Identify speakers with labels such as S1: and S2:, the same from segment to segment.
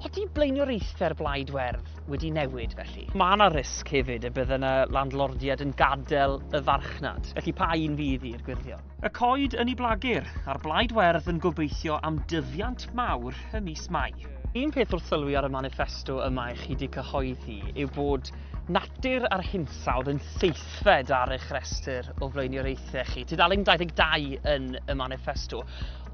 S1: Ydy blaenoriaethau'r Blaid Werdd wedi newid felly? Mae yna risg hefyd y bydd yna landlordiaid yn gadael y farchnad, felly pa un fydd i'r gwyrddion? Y coed yn ei blagur, a'r Blaid Werdd yn gobeithio am dyfiant mawr y mis Mai. Un peth wrth sylwi ar y maniffesto yma i chi wedi cyhoeddi yw bod natur a'r hinsawdd yn seithfed ar eich rhestr o flaenoriaethau chi. Tudalen 22 yn y maniffesto.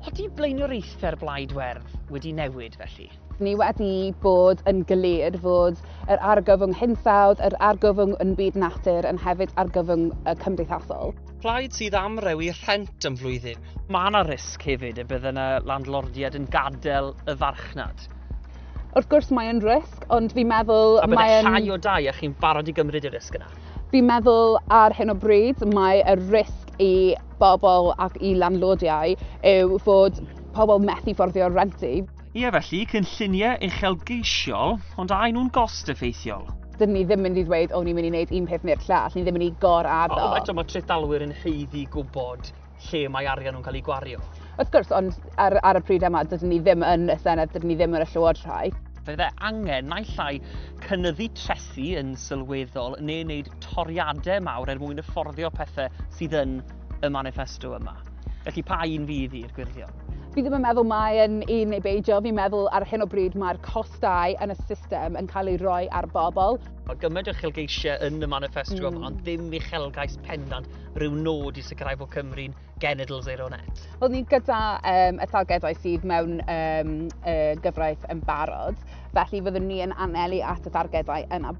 S1: Ydy blaenoriaethau'r Blaid Werdd wedi newid felly? Ni wedi
S2: bod yn glir fod yr argyfwng hinsawdd, yr argyfwng yn byd natur yn hefyd argyfwng cymdeithasol. Plaid sydd
S1: am rewi rhent am flwyddyn. Mae yna risg hefyd y bydd yna landlordiaid yn gadael y farchnad. Wrth gwrs
S2: mae yn risg, ond fi'n meddwl... A bydd e'n llai
S1: o
S2: dai
S1: a chi'n barod i gymryd y risg yna? Fi'n meddwl
S2: ar hyn o bryd mae y risg i bobl ac i landlordiau yw fod pobl methu fforddio'r rent i. Ie, felly,
S1: cynlluniau uchelgeisiol, ond a y'n nhw'n gost effeithiol? Dydyn ni ddim mynd i
S2: ddweud, o, ni'n mynd i wneud un peth neu'r llall, ni'n ddim mynd i gor-addo. Ond eto, mae trethdalwyr yn
S1: haeddu gwybod lle mae arian nhw'n cael ei gwario. Wrth gwrs, ond
S2: ar, ar y pryd yma, dydyn ni ddim yn y Senedd, dydyn ni ddim yn y Llywodraeth. Fe dde angen
S1: naill ai cynyddu trethi yn sylweddol neu wneud toriadau mawr er mwyn fforddio pethau sydd yn y manifesto yma. Felly pa un fydd i'r gwyrddion? Fi ddim yn meddwl mae
S2: yn un neu beidio. Fi'n meddwl ar hyn o bryd mae'r costau yn y system yn cael ei roi ar bobl. Mae gymaint o
S1: uchelgeisiau yn y manifesto mm. yma, ond ddim uchelgais pendant rhyw nod i sicrhau bod Cymru'n genitals ei ronet. Wel, ni gyda
S2: um, y targedau sydd mewn um, y gyfraith yn barod, felly fyddwn ni yn anelu at y targedau yna.